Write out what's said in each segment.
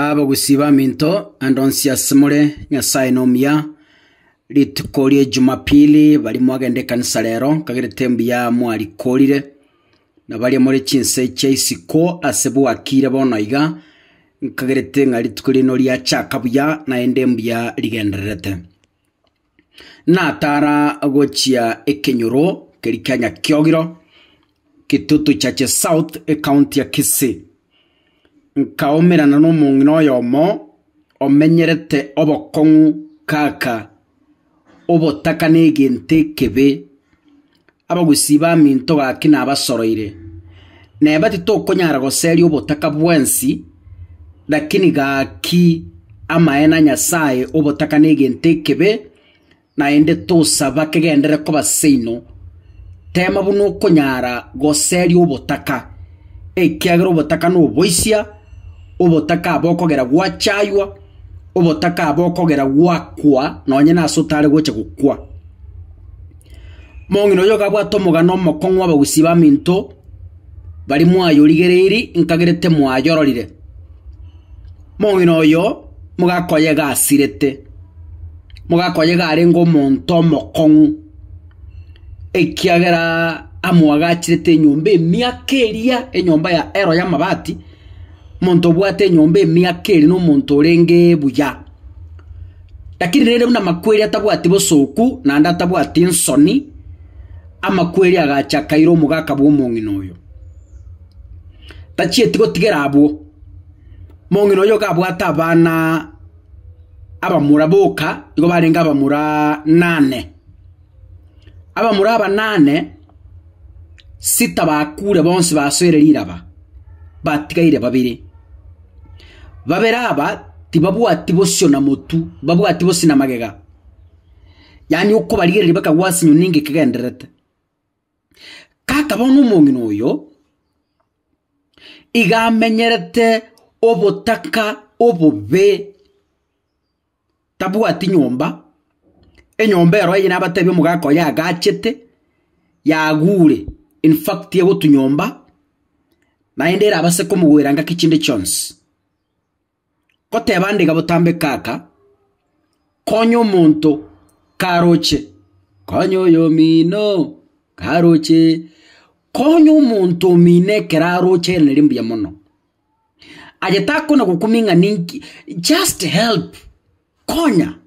Abagusii baminto, ande onsi ase more, Nyasae nomuya. Rituko rie Jumapili bari mwagenda ekanisa rero, nkagerete mbuya mwarikorire. Na baria more chinse chia isiko ase bwakiire bono iga, nkagerete ng'a rituko riaino riachaka buya, naende mbuya rigendererete. natara gochia ekenyoro keria kia Nyakiogiro, Kitutu Chache South, ecounty ya Kisii. Nkaumerana nomong'ina oyomo omenyerete obokong'u kaka obotaka negento ekebe. Abagusii baminto gaki nabasoroire, neba titokonyara goseria obotaka bwensi, lakini gaki amaene a Nyasae obotaka negento ekebe, naende tosaba kegenderere koba seino. Teema buna okonyara goseria obotaka, ekiagera obotaka noboisia, obotaka aba okogera gwachaywa, obotaka aba okogera gwakwa nonye nase otare gocha gokwa. Omong'ina oyio gabwate omogano omokong'u abagusii baminto bari mwayorigereiri nkagerete mwayororire. Omong'ina oyo mogaka oye iga asirete, mogaka oye iga arenge omonto omokong'u ekiagera amwagachirete enyomba emiaka eria enyomba ya ero y'amabati, omonto obwate enyomba emiaka eria nomonto orenge buya. Lakini rende buna amakweri atabwati bosooku naende atabwati ensoni, amakweri agacha akaira omogaka bw'omong'ina oyo. Tachieti gotigera abwo, mong'ina oyo iga abwate abana abamura boka, igo barenge abamura nane. Abamura abanane sita bakuure bonsi basoire riraba, batigaire babere. Babere aba tibabwati bosio na motu, mbabwati bosio na magega, yaani okobarigereria bakagwa ase enyoni ninga ekegendererete. Kaka bono omong'ina oyo iga amenyerete obotaka obobe, tabwati nyomba, enyomba ero aye nabatebi omogaka oye agachete, yagure, in fact egotwa nyomba, naende erabase komogoera ngaki chinde chionsi. Goteba nde iga botambe kaka, konya omonto karoche, konya oyomino karoche, konya omonto omino ekero aroche ere nari mbuya mono. aye takona gokumia ng'a ninki, just help, konya.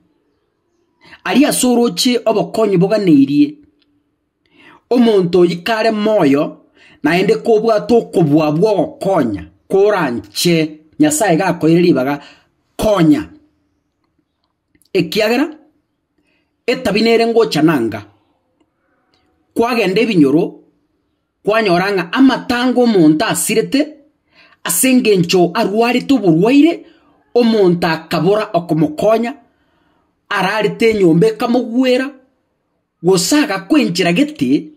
Aria ase oroche obokonyi boganeirie, omonto oyio kare moyo naende kobwate okobua bw'ogokonya koranche, Nyasaye iga akoeire ribaga, konya. Ekiagera etabi nere ngocha nanga, kwagenda ebinyoro Kwanyora ng'a amatanga omonto asirete ase engencho arwarete oborwaire, omonto akabora okomokonya, ararete enyomba ekamogwera, gose agakwa enchera gete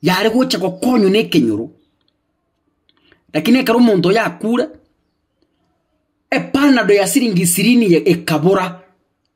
yare gocha gokonywa na ekenyoro. Lakini ekero omonto oyo akure, epanado ya siringi ishirini ekabora.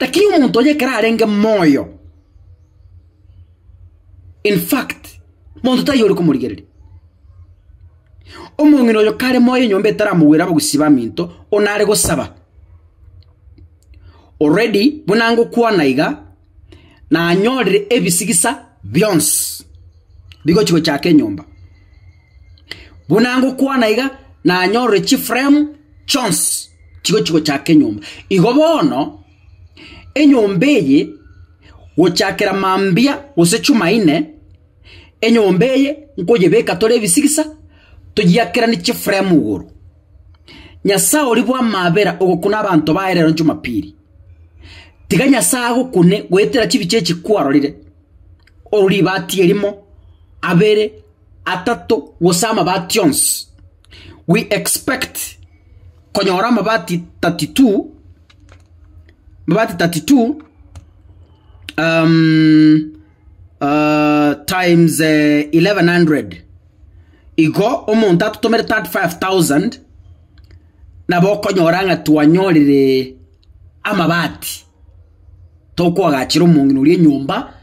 Lakini omonto oye ekero arenge moyo, in fact, monto taiyo ore komorigereria. Omong'ina oyo kare moyo enyomba etaramogwere abagusii baminto, onare gosaba. Already, buna ngokwana iga. nanyorire ebisigisa bionsi bigochia gochaka enyomba. Buna ngokwana iga nanyorire chifremu chionsi chigochia gochaka enyomba. Igo bono enyomba eye gochakera mambia gose Jumaine, enyomba eye nkoyebeka tore ebisigisa toyiakeranie chifremu igoro. Nyasae oria bw'amabera ogokuna abanto baye rero Jumapili. Tiga Nyasae agokune goetera chibicha echi kwarorire, oro ribaati erimo, abere, atato, gose amabaati onsi. We expect konyora amabaati 32, amabaati 32 um times eleven hundred. Igo omonto atotomere 35,000. nabo okonyora ng'a twanyorire amabati, tokoagachera omong'ina oria enyomba,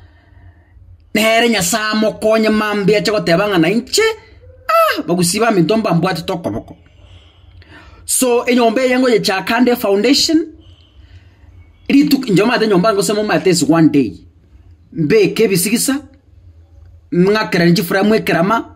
nere Nyasae amokonye mambia ache goteba ng'a nainche ah bagusii baminto mbambwatete okoboko. So enyomba eye ngoyechaka nde efoundation, rituko inche omanyete nyomba yange gose momanyete is one day, mbeke ebisigisa, ng'akeranie chifremu ekerama.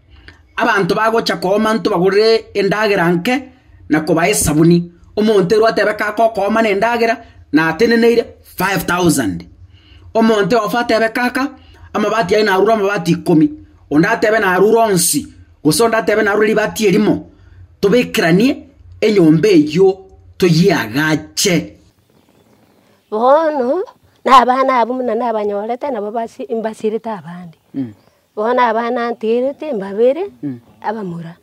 Abanto bagocha kooma intwe bagorere endagera nke na kobaa esabuni. Omonto ere otebe kaka okooma na endagera nateneneire five thousand. Omonto oyofa atebe kaka amabati aye narure amabati ikomi, onde atebe narure onsi, gose onde atebe narure ribati erimo, tobekeranie enyomba eywo toyeagache. Bono, na abana abwo buna nabanyorete nabo basi mbasirete abande. Bono abana ntigerete mbabere abamura,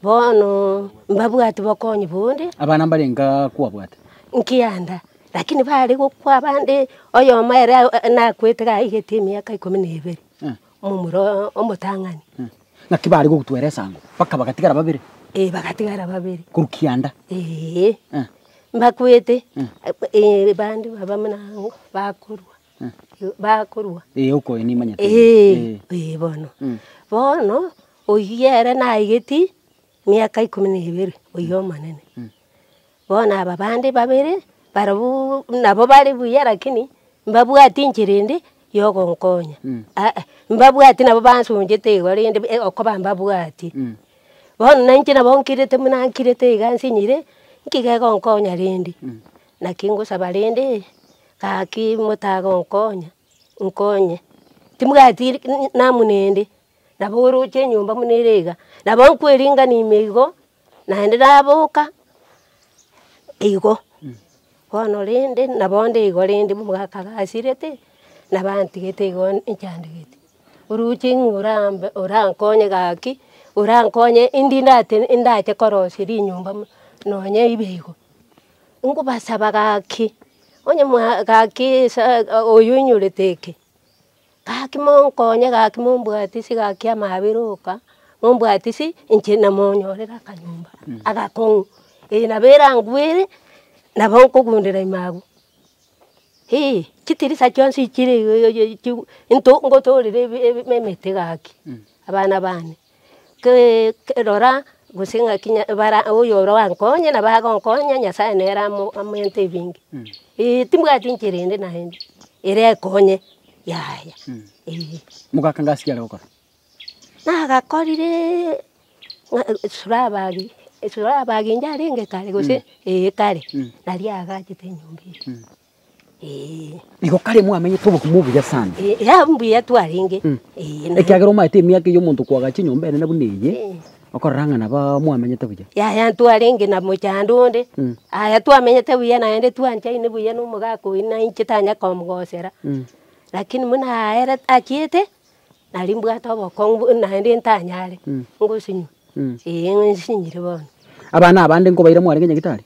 bono mbabwati bokonyi bonde. Abana mbare inga kwabwate? Nkianda, lakini bare gokwa abande, oyomo ere nakwete iga aigete emiaka ikomi na ebere, momura oo omotang'ani. Naki bare gogotwera esango, mpaka bagatigara babere? Ee bagatigara babere. Korwa kianda? Ee. Mbakwete bande baba buna aa bakorwa. bakorua? Ee, okoyo nimanyete. Ee, ee bono. Bono, oyio ere naigeti miaka ikomi na ebere, oyio omonene. Bono aba bande babere, barobuu nabo bare buya lakini, mbabwati enchera ende yogonkonya, aa, mbabwati nabo bansonchete igo rende e- okoba mbabwati. Bono nainche nabo nkirete buna nkirete iga nsinyire, nki gegonkonya rende? Naki ngosaba rende, gaki motaga onkonya, nkonye. Timobwati namuna ende, nabo oroche enyomba buna ere iga, nabo nkoeringani ime igo, naende naboka igo. Bono rende nabo nde igo rende omogaka gasirete, nabo antigete igo nchandegete. Oroche ng'a orambe orankonye gaki, orankonye ndi ndate ndache korosia rinyomba buna nonye ibe igo. Nkobasaba gaki, onye mwa gaki esaa oyo inyorete eke, gaki monkonye gaki mombwatisi gaki amabere oka, mombwatisi inche namonyorere akanyomba agakong'u, eye nabo erangwere nabo nkogundera ime abwo. Eeh chitirisa chionsi chire iga iga iga iga chiu into ngotorere ebe ebe emete gaki abana bane. rora gose ng'aki bara oyo orankonye nabo agonkonya, Nyasaye nere amo amoente ebinge. Eeh timbwati enchera ende naende, ere ekonye yaya eeh. Mogaka ngasi kiare gokora? Nagakorire ng'a esurabagi, esurabagi inche arenge kare gose eeh kare, naria agachete enyomba eye. Eh, Igo kare mwamenyete obokumu obuya sana. eh, ya mbuya twarenge. Mm. Eh, na- Ekiagera omaete emiaka eyio omonto kwagacha enyomba enene buna eye, Eh. okorora ng'a naba mwamenyete buya. yaya ntwarenge na mochando onde Mm. aya twamenyete buya naende twanchaine buya na omogaka oyi na inche tanya komogosera Mm. lakini muna aere achiete nari mbwate obokong'u bu- naende ntanyare Mm. ngosinywa Mm. ee ng'isinyire bono Abana abande nkobaira mwarenge nyagetari?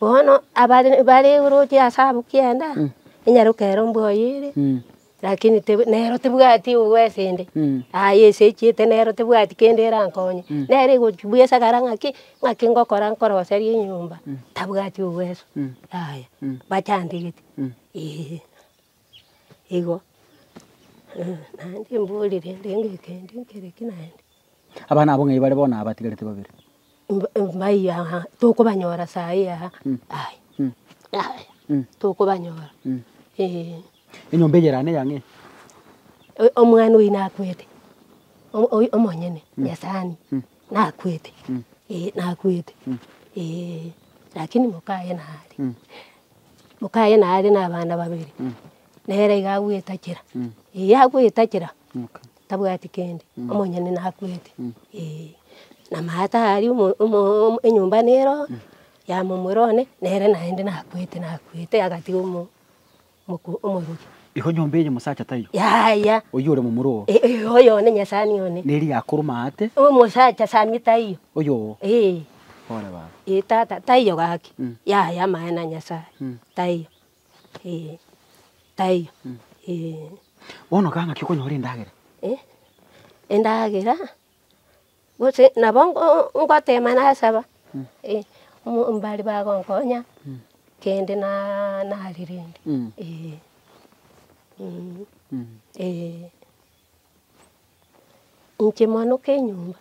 Bono abare bare oroche ase abwo kianda, enyaroka ero mbwa oye ere, lakini teb nero tebwati obwesi inde, aye esechiete nero tebwati kende erankonye, nere egochi bwa esagara ng'aki ng'aki ngokora nkoroserie enyomba, tabwati obweso, yaya bachantegete eeh. Igo, eh, naende mbori rende ng'ake kende nkere ki naende. Abana abwo ng'ai bare bono aba batigarete babere? Mb- mb- mbayi aha, tokobanyora sayi aha, aye, aye, tokobanyora, eeh. Enyomba eye erane eyang'e? O- omwana oyio nakwete, o- oyo omonyene, nyasani, nakwete, eh, nakwete, eeh, lakini mokaye nare. Mokaye nare nabana babere, nere iga agoetachera, eeh agoetachera tabwati kende, omonyene nakwete eeh. Na maata aria omo omo enyomba nero ya momura one, nere naende nakwete nakwete agatiga omo omoko omorwoti. Igo nyomba eye mosacha taiyo? Yaya. Oyio ore momura oo? Eeh, oyo one nyasani one. Neri yakorwa maate? Omosacha sami taiyo. Oyoo? Eeh. Ee tata taiyo gaki, yaya amaene a Nyasaye, taiyo ee, taiyo ee. Bono kaba ng'aki okonyora endagera? Eh, endagera gose nabo ngo ngotema nasaba, eh, omo mbari bagonkonya kende naa narerende, eh, eh. Inche mwana oka enyomba,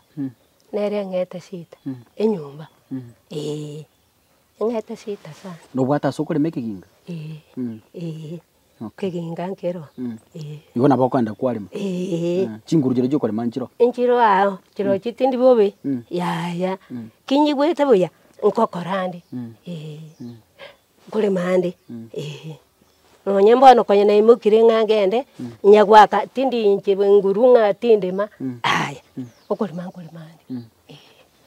nere eng'ete shida enyomba eeh, eng'ete shida sana. Nobwate ase okorema ekeginga? Eeh, eeh, ekeginga nkero eeh. Igo nabo okoenda kwarema? Eeh. Chinguru chiria chiokorema nchiro? Nchiro ao, chirochio chitindi bobe, yaya, kinyigwete buya, nkokora ande eeh. Nkore mambia, ee. Nonye mbono konya naimokirie ng'a ngende, inya goaka tindi inche bwe nguru ng'a tindima, aya, okorema nkore mambia, ee.